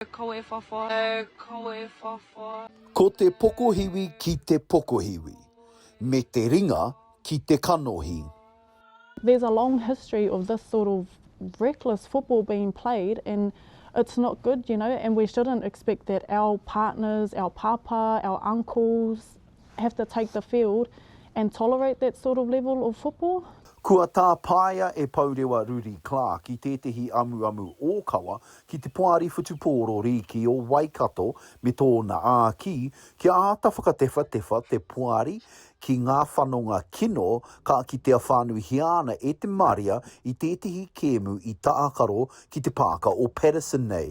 Kawe whawha, kawe whawha. Ko te pokohiwi ki te pokohiwi, me te ringa ki te kanohi. There's a long history of this sort of reckless football being played and it's not good you know and we shouldn't expect that our partners, our pāpā, our uncles, have to take the field and tolerate that sort of level of football. Kua tāpaea e Pourewa Ruri Clarke i tētehi amuamu ōkawa ki te Poari Whutupōro Rīki o Waikato me tōna āki kia āta whakatewhatewha te poari ki ngā whanonga kino ka kitea whānuihia ana e te marea i tētehi kēmu i tākaro ki te pāka o Paterson nei.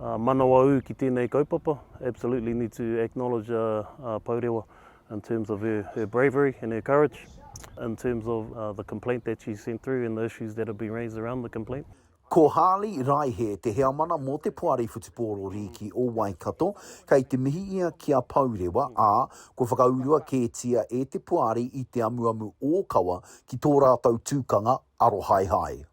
Manawaū ki tēnei kaupapa, absolutely need to acknowledge Pourewa in terms of her her bravery and her courage in terms of the complaint that she sent through and the issues that have been raised around the complaint. Ko Harley Raihe te heamana mō te Poari Whutupōro Rīki o Waikato, kei te mihi ia ki a Pourewa, ā, kua whakaurua kētia e te Poari i te amuamu ōkawa ki tō rātou tūkanga arohaehae.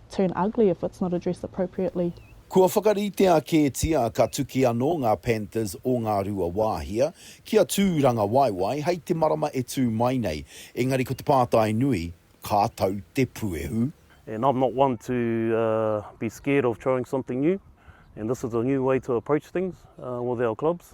turn ugly if it's not addressed appropriately. Kua whakaritea kētia ka tuki anō ngā Panthers o Ngāruawāhia ki a Tūrangawaewae hei te marama e tū mai nei, engari ko te pātai nui, ka tau te puehu? And I'm not one to be scared of trying something new and this is a new way to approach things with our clubs.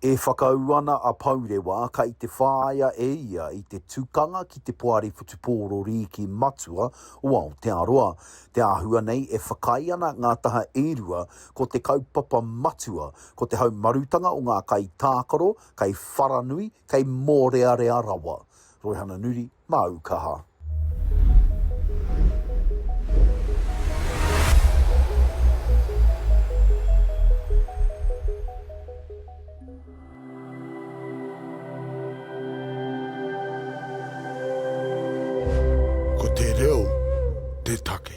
E whakaū ana a Pourewa kei te whāia e ia i te tukanga ki te Poari Whutupōro Rīki Matua o Aotearoa. Te āhua nei e whakaae ana ngā taha e rua ko te kaupapa matua, ko te haumarutanga o ngā kaitākaro kei wharanui, kei mōrearea rawa. Roihana Nuri. Māu kaha. Ko te reo te take.